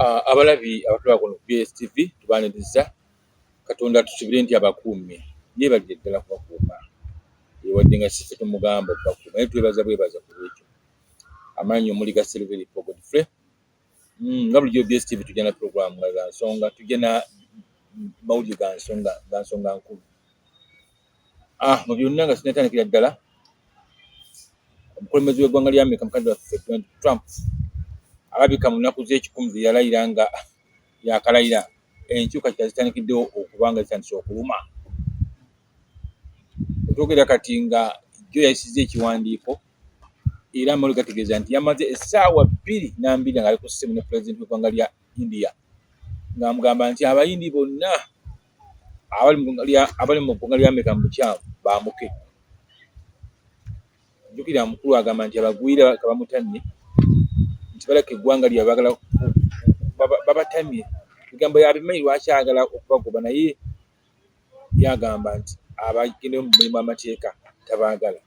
Ah, abalabi abatulaba kuno BSTV tubaniriza Katonda tusubire nti abakuumye yebalire ddala kubakuuma ewadde nga sife tumugamba okubakuuma naye twebaza bwebaza ku lwekyo amaanyi omuli ga Silveri Paul Godfrey mm, nga bulijjo BSTV tujja na programu nga za nsonga tujja na mawulire ga nsonga ga nsonga nkulu Ah, mu byonna nga sinatandikira ddala omukulembeze w'eggwanga lya Amerika mukadde waffe Donald Trump alabika mu nnaku z'ekikumi ze yalayira nga yakalayira enkyuka kyazitandikiddewo okuba nga zitandise okuluma otwogera kati nga jjo yayisizza ekiwandiiko era amalo gategeeza nti yamaze essaawa bbiri nambiri nga ali ku ssimu ne pulezidenti w'eggwanga lya India ng'amugamba nti abayindi bonna abali mu ggwanga lya abali mu ggwanga lya Amerika mu bukyamu baamuke. Jjukira mukulu agamba nti abagwira bamutamye nti balaka eggwanga lya bagala babatamye ebigambo yabimanyi lwaki ayagala okubagoba naye yagamba nti abagendeyo mu mulimu amateeka tabaagala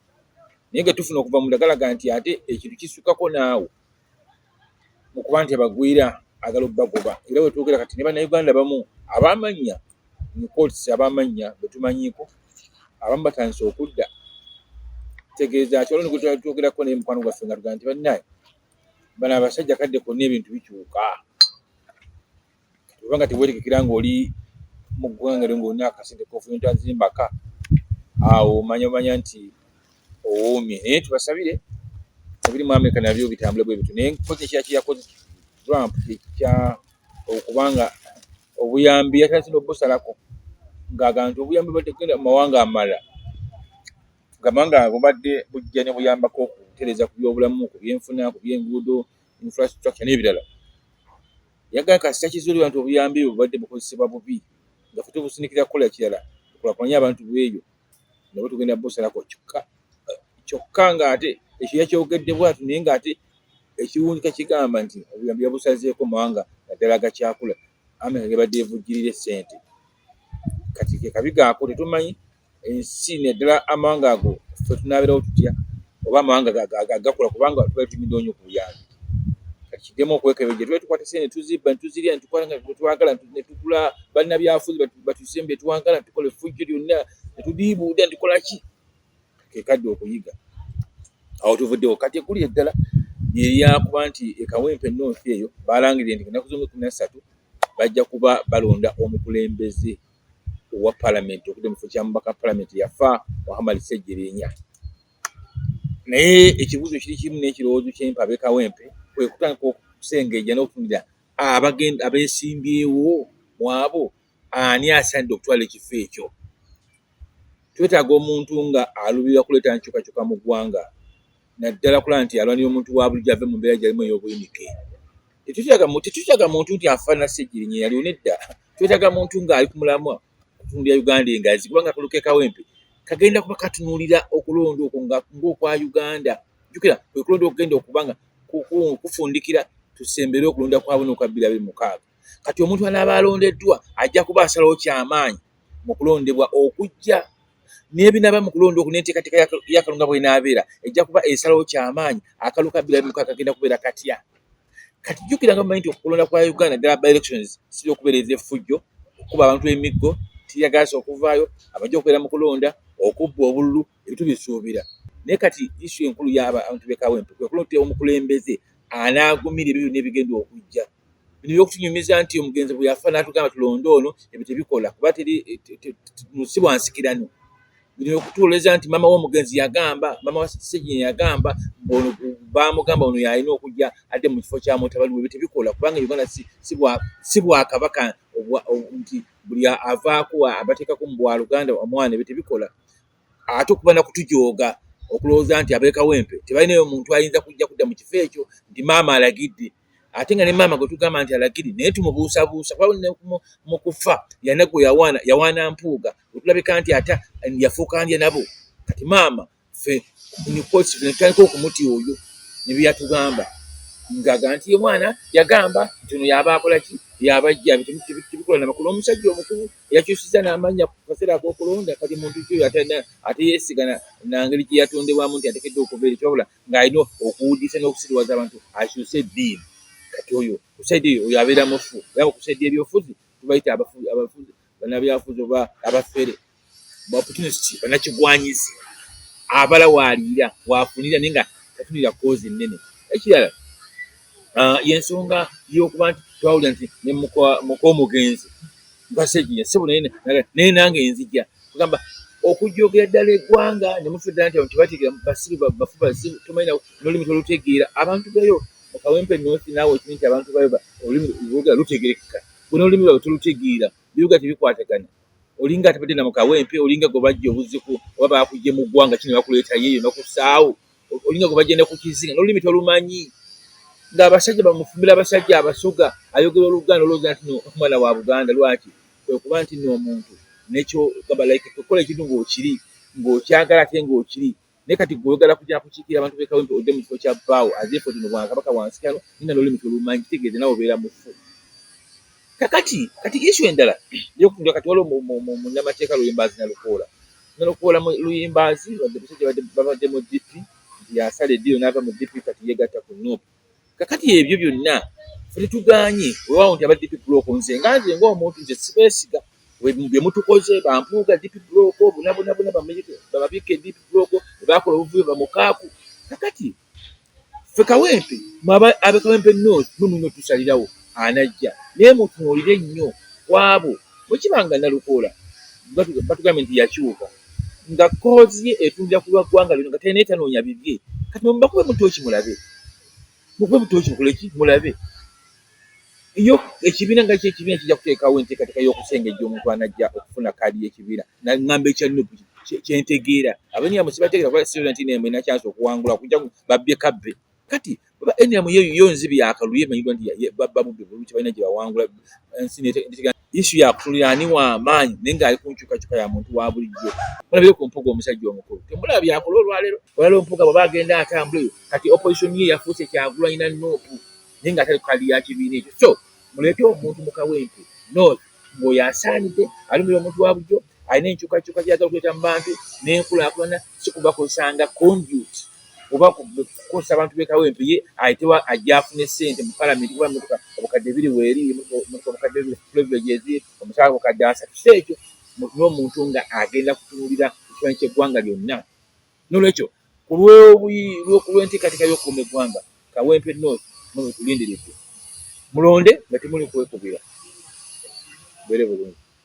naye nga tufuna okuva mu ndagalaga nti ate ekintu kisukako naawe mu kuba nti abagwira agala obagoba era wetuukira kati ne bannayuganda bamu abamannya nkootisi abamannya betumanyiiko abamu batandise okudda tegeeza kyoloni gwetwatuugerako naye mukwano gwaffe nga tugaa nti bannaye bano abasajja kadde konna ebintu bikyuka obanga teweerekekera ng'oli mu ggwanga lyo ng'olina akasente kofuyinta zimbaka awo omanya omanya nti owoomye naye tubasabire ebiri mu amerika nabyo bitambule bwe bityo naye nkozi ekira kiyakoze trump ekya okubanga obuyambi yatasina obusalako ngaaga nti obuyambi bategenda mu mawanga amalala gamba nga bubadde bujja ne buyambako okutereza ku byobulamu ku byenfuna ku byenguudo infrastructure n'ebirala Yagala kasita kizuulibwa nti obuyambi ebyo bubadde bukozesebwa bubi nga ffe tubusindikira kukola kirala tukulakulanye abantu b'eyo nabo tugenda busalako kyokka kyokka ng'ate ekyo yakyogedde bwatu naye ng'ate ekiwunjika kigamba nti obuyambi yabusazeeko mawanga naddala agakyakula amerika gebadde evujjirira essente kati kekabigaako tetumanyi ensi naddala amawanga ago fe tunabeerawo tutya oba amawanga gagakula kubanga tuba tunyidde onyo kubuyambi kati kidemu okwekebeja tuba tukwata sente netuzibba netuzirya netukola nga twagala netugula balina byafuzi batusembe twagala netukola efujjo lyonna netudiibuuda netukola ki kekadde okuyiga awo tuvuddewo kati ekuli eddala lyeryakuba nti ekawempe north eyo balangirire nti enaku zomukumi nassatu bajja kuba balonda omukulembeze owa palamenti okudde mu kifo kya mubaka palamenti yafa muhammad ssejjirinya naye ekibuuzo kiri kimu n'ekirowoozo kyempa abekawempe kwe kutandika okusengejja n'okufunira abagenda abeesimbyewo mu abo ani asaanidde okutwala ekifo ekyo twetaaga omuntu nga aluubirira kuleeta nkyukakyuka mu ggwanga naddala okulaba nti alwanira omuntu wa bulijjo ave mu mbeera gyalimu ey'obuyinike. Tetwetaaga muntu nti afaanana Ssegirinya eyaliwo nedda, twetaaga muntu ng'ali ku mulamwa okutundu ya Uganda engazi kubanga akalulu k'e Kawempe kagenda kuba katunuulira okulonda okwo ng'okwa Uganda. Jjukira kwe kulonda okugenda okuba nga kufundikira tusembere okulonda kwa buna okwa bbiri abiri mukaaga. Kati omuntu anaaba alondeddwa ajja kuba asalawo ky'amaanyi. mu kulondebwa okujja n'ebinaaba mu kulonda oku n'enteekateeka ya kalunga bw'enaabeera ejja kuba esalawo ky'amaanyi akalu ka bbiri mu kagenda kubeera katya kati jjukira nga mumanyi nti okulonda kwa uganda ddala by elections siri okubeereza effujjo okukuba abantu emiggo tiyagaasa okuvaayo abajja okubeera mu kulonda okubba obululu ebitubisuubira naye kati isu enkulu yabantu bekawentu kwekulotera omukulembeze anaagumira ebyo byonna ebigenda okujja bino byokutunyumiza nti omugenzi bwe yafa natugamba tulonde ono ebyo tebikola kuba teri musi bwansikirano bino byokutuwoleza nti maama womugenzi yagamba maama wasegini yagamba ono bamugamba ono yalina okujja adde mu kifo kyamutabaliwe ebyo tebikola kubanga uganda si bwakabaka nti buli avaako abateekako mu bwaluganda omwana ebyo tebikola ate okuba nakutujooga okulowooza nti abekawempe tebalinayo omuntu ayinza kujja kudda mu kifo ekyo nti maama alagidde ate nga ne maama gwe tugamba nti alagidde naye tumubuusabuusa kuba mu kufa yanagwe yawaana yawaana mpuuga otulabika nti ate yafuuka ndya nabo kati maama fe netandika okumuti oyo nebyeyatugamba ngaga nti omwana yagamba nti ono yaba akolaki yabajja tebikola namakulu omusajja omukulu yakyusiza n'amannya ku kaseera ak'okulonda kati muntu ki oyo ate yeesiga na ngeri gye yatondebwamu nti atekedde okuva eri kyabula ng'alina okuwudiisa n'okusiriwaza abantu akyuse eddiini kati oyo kusaidi eyo oyo abeera mufu era kusaidi ebyofuzi tubayita abafuzi banabyafuzi oba abafere opportunist banakigwanyizi abala waaliira waafunira naye nga tatunira koozi ennene ekirala ah, yensonga yokuba nti twawulira nti nemukomugenzi basejiya sibu naye nange enzija kugamba okujogera ddala eggwanga nemufudda nti abantu tebategeera basiru bafu bazibu tomanyi nolimi tolutegeera abantu bayo mukawempe nosi naawe okimanyi nti abantu bayo olulimi lwogera lutegerekeka bona olulimi lwabwe tolutegeera bibuga tebikwatagana olinga atabadde na mukawempe olinga gwe bajja obuziku oba bakujje mu ggwanga kino bakuleetayo eyo nakusaawo olinga gwe bagenda ku kizinga n'olulimi tolumanyi ng'abasajja bamufumbira abasajja abasoga ayogera oluganda olwoza nti no omwana wa buganda lwaki kwekuba nti no omuntu nekyo gamba like kukola ekintu ng'okiri ng'okyagala ate ng'okiri naye kati gweogala kujja kukiikira abantu bekawempe odde mu kifo kya bbaawo azeefo tino bwakabaka wansi kano ninga nolimi tolumanyi kitegeeze nawe obeera mufu kakati kati issue endala yokundi kati waliwo munnamateeka luyimbaazi nalukoola nalukoola luyimbaazi babadde mu dp nti yasala eddiiro n'ava mu dp kati yegatta ku nup kakati ebyo byonna tetuganye wewawo nti aba dp block nze nga nze ngaomuntu nze sibesiga byemutukoze bampuuga dp block bunabunabuna babikke dp block bakola obuvuyo bamukaaku kakati ffe kawempe mwaba abe kawempe north mwe mulina otusalirawo anajja naye mutunuulire nnyo kwabo bwekiba nga nalukoola batugambye nti yakyuka nga koozi ye etundira ku lwa ggwanga lino nga talinaye tanoonya bibye kati mubakube mutooki mulabe mukube mutooki mukoleki mulabe yo ekibiina nga kyekibiina kijja kuteekawo enteekateeka y'okusengejja omuntu anajja okufuna kaadi y'ekibiina nangamba ekya nup kyentegeera abenira musibategeera kuba sirina nti nemwe nakyansi okuwangula kuja babbye kabbe kati oba enira muyeyo yo nzibi yakaluye manyidwa nti babba bubbi bulungi balina gye bawangula ensi netegera Yesu yakutunulira ani wa maanyi naye ng'ali ku nkyukakyuka ya muntu wa bulijjo. Mulabire ku mpuga omusajja omukulu, temulaba byakola olwaleero. Olwaleero mpuga bwaba agenda atambula eyo, kati opposition ye yafuuse kyagulanyi na nuupu naye ng'atali ku kadi ya kibiina ekyo. So muleete omuntu mu kawempe north ng'oyo asaanidde alumira omuntu wa bulijjo. alina enkyukakyuka gyagala okuleeta mu bantu n'enkulaakulana si kubakozesa nga conduit oba kukozesa abantu bekawo empi ye ayitewa ajja afune ssente mu palamenti kuba emotoka obukadde biri weeri emotoka obukadde biri privilege ezi omusaala obukadde asatu si ekyo n'omuntu nga agenda kutunulira ekifanyi ky'eggwanga lyonna nolwekyo ku lw'enteekateeka y'okukuuma eggwanga kawempe north mutulindiridde mulonde nga temuli kwekubira bere bulungi